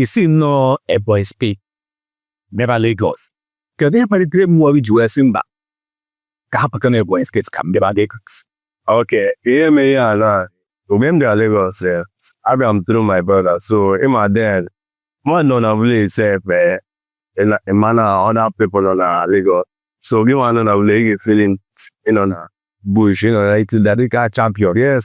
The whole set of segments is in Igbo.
i si nnọọ Ebonyi steeti bịaba Lagos kedu ihe kpalitere mmụọ gị i ji wee sị mba ka ha pụta n'Ebonyi steeti ka m bịaba Lagos okay ihe mere ihe a na mgbe m bịara Lagos eh, abịara m through my brother so ị ma then mmadụ nọ na village sef eh, ị ma na other people nọ na Lagos so gị nwa nọ na village ị ga-efeeli ị nọ na bush ị nọ na itida dịka champion yes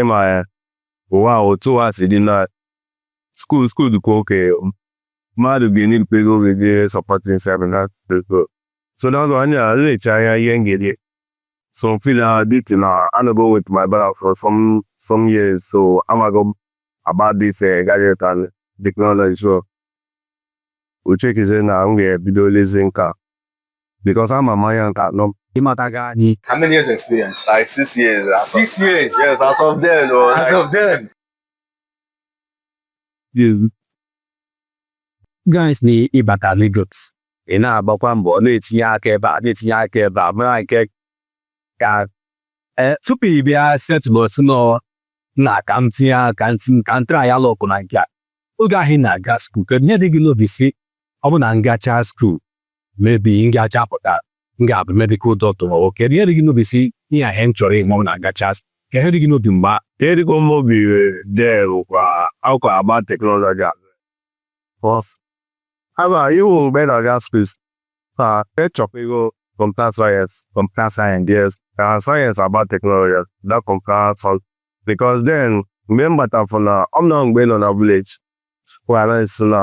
ị ma ya ụwa a otu ụwa si dị na skuul skuul dịkwa okay mmadụ ga-enye dịkwa ego oge dị supporting sef na ego so na ọzọ anya na-eche anya ihe m ga-eri so m feel uh, this na anọgo m with my brother for some some years so amago m about this uh, gadget and technology so wee checkizie na m ga-ebido lezie nke a because ama m anya nke a nọ m ịmata gị anyị How many years experience? like six years as of- Six years. yes as of then o As like, of then. guys na ịbata Lagos ị na-agbakwa mbọ na-etinye aka ebe a na-etinye aka ebe a mara nke ka ee tupu ị bịa settle nnọọ na ka m tinye aka ka m tinye- ka m try-a luck na nke a oge ahụ ị na-aga skuul kedu ihe dị gị n'obi sị ọ bụ na m gachaa skuul mebi m ga-achapụta m ga-abụ medikal dọkịta ma nwoke ihe dị gị n'obi si ihe ihe m chọrọ ịmụ na gachas ka ihe dị gị n'obi mgba ihe dịkwa m obi dee bụkwa akwa agba teknọlọji a bọs aba iwu mgbe na ga spes na echọpụgo kọmputa sayensị kọmputa sayensị yes na sayensị agba teknọlọji da kọmputa sayensị bikos den mgbe m gbatafụ na ọ m na mgbe nọ na vileji kwara nso na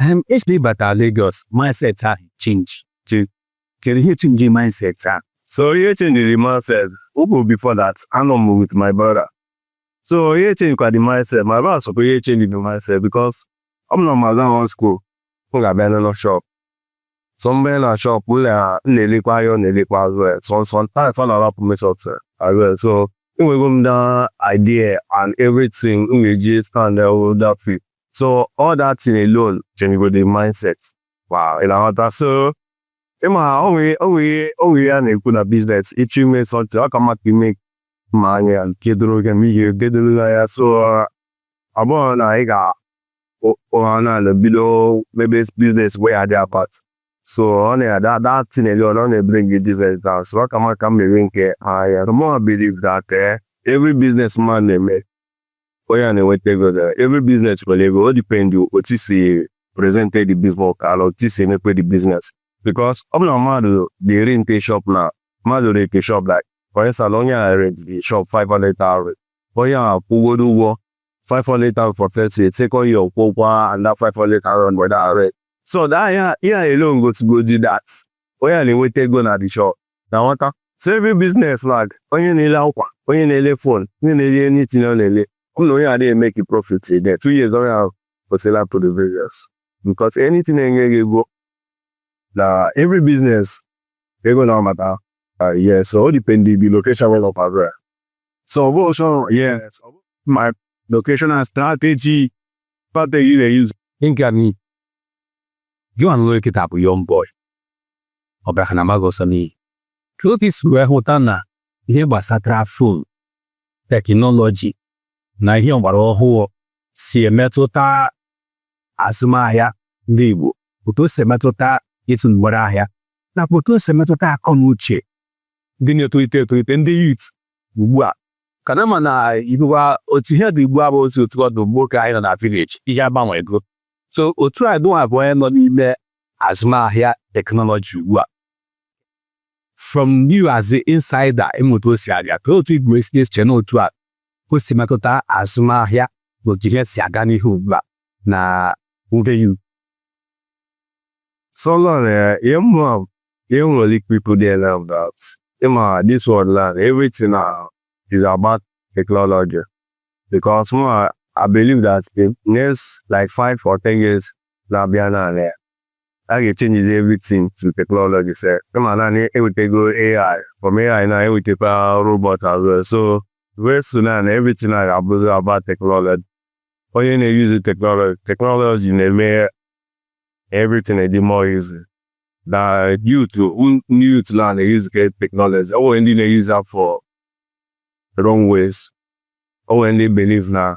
Em, actually ịbata Lagos, mindset ahụ change. Che, kedu ihe change mindset ahụ? So ihe change the mindset. Ọ bụ before that, anọ m with my brother. So ihe change kwa the mindset. My brother sokwa ihe change the mindset because ọ bụ na m gaa one school, m ga-abịa n'ụlọ shop. So m banye na shop, m na- m na-elekwa ahịa, ọ na-elekwa as well. So sometimes ọ na-arapụ m shop sef, as well. So enwego m that idea and everything m ga-eji stand there with that field. so all that thing alone changego the mindset wow ị na-aghọta so ị ma o nwe o nwe o nwe ihe a na-ekwu na business ị chọọ ime something ọ ka mma ka i mee ma anya nke doro gị ma ihe nke doro na ya so ọ bụrụ na ị ga ụra na bido mebe business wey adị apart so ọ na-ada that thing alone ọ na-ebring gị business down so ọ ka mma ka m mere nke ahịa the more I believe that eh, every business man na-eme onye a na-enweta ego na every business nwere ego o depend otu i si presente the business na otu i si emeke the business because ọ bụ na mmadụ ga-erente shop na mmadụ rente shop like for instance onye a rent the shop 500,000 onye a kwụgodo ụgwọ 500,000 for first year second year kwụọ ụgwọ another 500,000 for that rent so that ya ya alone gosigodi that onye a na-enweta ego na the shop na nwata so every business ma onye na-ele akwa onye na-ele phone onye na-ele anything ọ na-ele ọ na onye adịghị emeke profit there two years onye ahụ kwụsịla pụrụ business because anything na-enye gị ego na every business ego na ọmata ah, yes so o depend the location where you operate so ọ bụ also yes my location and strategy strategy they use nke a na gị nwa nọ kịta bụ young boy ọ bịa ha na amaghị ọsọ n'ihi ka otu i si wee hụta na ihe gbasatara phone teknọlọji na ihe ọgbara ọhụụ si emetụta azụmahịa ndị Igbo otu o si emetụta ịtụ mgbere ahịa nakwa otu o si emetụta akọ na uche ndị na-etolite etolite ndị youth ugbu a ka na ma na ugbu a otu ihe dị ugbu a abụrọzi otu ọ dụ mgbe oge anyị nọ na village ihe agbanwego so otu a gịnwa bụ onye nọ n'ime azụmahịa teknọlọji ugbu a from you as the insider ị ma otu o si aga ka otu ị wee si eche na otu a o si metụta azụmahịa na otu ihe si aga n'ihu ugbu a na ngeyu so long, uh, your mom, you don't really people there now about. ị ma, this world land, everything now is about technology. Because mụ, I believe that in next like five or ten years, na-abịa na a ga-echenjizi everything to technology se ka ị ma na ha ewetego AI from AI na ewetekwa robot as well so very soon na everything a ga-abụzi about technology onye na-eyuzu technology technology na-eme everything dị more easy na youth ndị youth na na-eyuzuke technology o nwere ndị na-eyuzu for wrong ways o nwere ndị believe na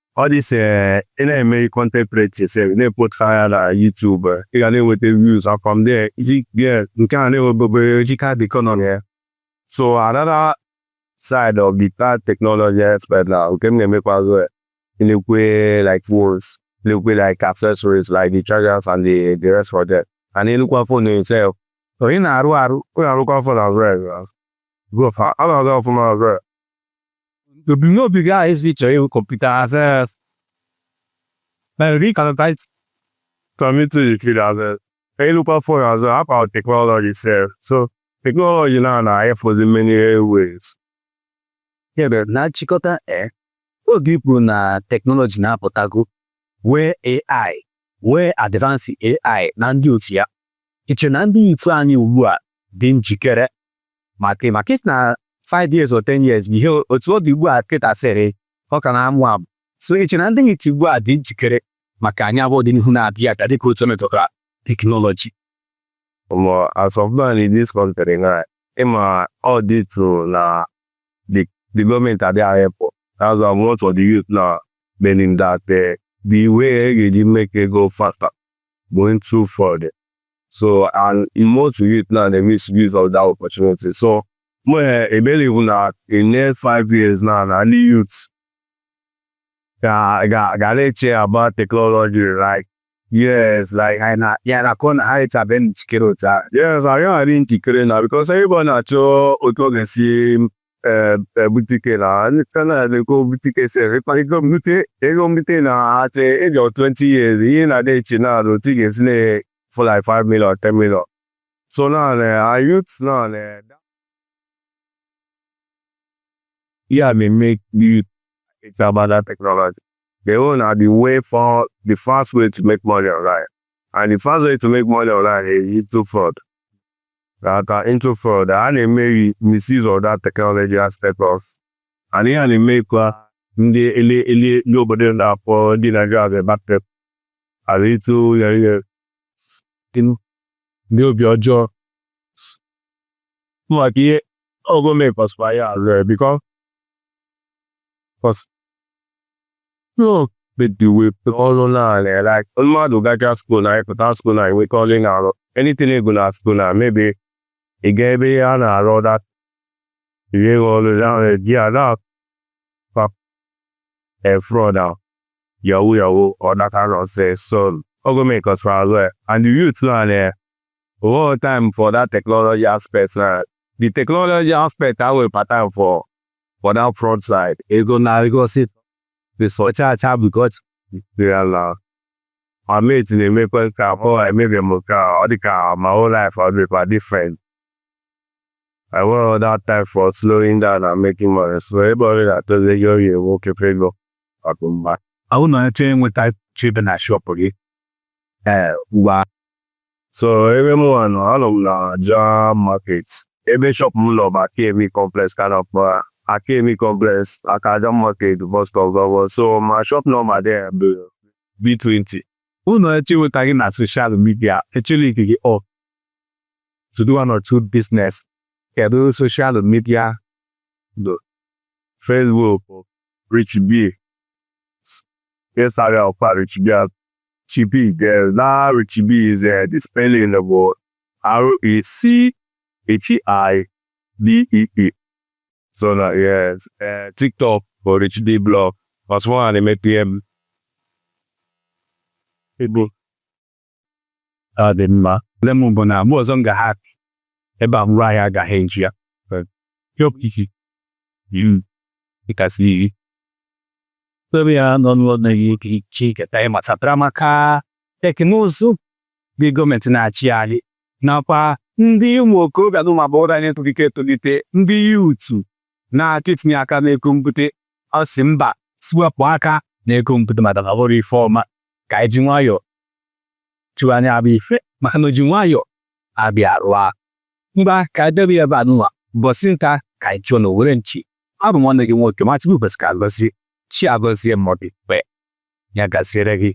all this ị na-eme content creating se na-eput fa na YouTube ị ga na-enweta views from there iji get nke a na-enwebebe jika the economy ya so another side of that technology aspect na nke m na-emekwa as well ilekwa like phones ilekwa like accessories like the chargers and the, the rest of them and ilekwa phone itself onye na-arụ arụ onye arụkwa phone as well bro fa ọ na-aga ọfụma as well Ebumnobi gị ahụ ezi chọrọ ịhụ kọmputa access na ri kanatait kọmiti yikiri azes ịlụkwa fon as well about teknọlọji itself so teknọlọji na na efozi in many ways ebe na nchịkọta e oge i kwu na teknọlọji na-apụtago nwee AI nwee advance AI na ndị otu ya i che na ndị youth anyị ugbu a dị njikere maka maka i si na 5 years or 10 years bụ ihe otu ọ dị ugbu a kịta sịrị ọ ka na-amụ amụ so i che na ndị youth ugbu a dị njikere maka anyị bụ ọdịnihu na-abịa abịa dịka otu metụtara teknọlọji mụ as of now in this kọntrị now ị ma all due to na the gọọmenti adịghị ehelp that's why most of the youth na meaning that uh, the way e ga-eji make ego faster bụ into fraud so and most youth now dey misuse of that opportunity so mụ eh, e believe na in next five years now na ndị youth ga ga ga na-eche about technology like Yes, like I na yeah, na-akọ na ha adịbeghị njikere otu a. yes anyị adị njikere now because everybody na-achọ otu ọ ga-esi butike na kana na-ego butike sere kpakịgo mbute ego mbute na at age of 20 years ihe na-adị eche na alụ otu ị ga-esi afford like 5 million 10 million so na na youth na na yeah they make youth it's about that technology they own are the way for the fast way to make money online and the fast way to make money online is through fraud that are into fraud a na-emezi misuse of that technology aspect of and ihe a na-emekwa ndị ele ele ndị obodo na-akpọ ndị Naijiria the market are into ya ihe ndị obi ọjọọ maka ihe ọ gọọmenti kọsịkwa ya because adịghị enwe ọrụ naanị ya like mmadụ gacha skuul na ịpụta skuul na enweghị ọrụ ị na-arụ anything ị gụrụ na skuul na maybe ị ga ebe a na-arụ dat rie gị ọrụ naanị di ya na fraud ahụ yahoo yahoo all that nonsense so ọ gọọmenti cause ya as well and the youth na na whole time for that technology aspect na the technology aspect ahụ part time for for that fraud side ego na ego si ọcha acha because ya na my mate na-emekwa nke abụọ maybe m nke a ọ dị ka my whole life ọ dịkwa different enweghị that time for slowing down and making money so everybody na-achọzi ego oyi ewu oke pego ọkụ mma ahụ na onye chọọ inweta chebe na shop again So ebe m nwa nọ anọ m n'Aja market ebe shop m nọ bụ Akemi complex ka a na-akpọ ya Akemi complex aka Aja market bus stop gawa so my shop nọmba there bụ B20 Unu achọ ịnweta gị na soshal midia echela ike gị ọ to do one or two business kedu soshal midia do Facebook Richibee Instagram kwa Richibee Chibee there na Richibee is uh, the spelling bụ R-I-C-H-I-B-E-E. So na yes, uh, TikTok bụ Richibee blog. Ọsụ nwa na-eme PM. Igbo. Ọ dị mma. Nne m bụ na mgbe ọzọ m ga-ha ebe a mụrụ anyị agaghị eju ya. Yọp isi. Iwu. Ịkasị iri. Ebe ya nọ n'ụlọ na-eyi ike iche ike ta ịmatapụra maka teknụzụ ndị gọọmenti na-achị anyị nakwa ndị ụmụ okorobịa na ụmụ agbọghọ anyị etolite etolite ndị yuutu na-achọ itinye aka n'ego mbute ọ sị mba sị wepụ aka n'ego mbute maka na ọ bụrọ ife ọma ka anyị ji nwayọọ chụwa anya abụ ife maka na o ji nwayọọ abịa rụọ mgba ka e debe ya ebe anụwa ụbọsị nta ka anyị chụọ n'owere nchi abụ m nwanne gị nwoke Matigbu Pascal Gozie Chiagozie Mọdịkpe ya gaziere gị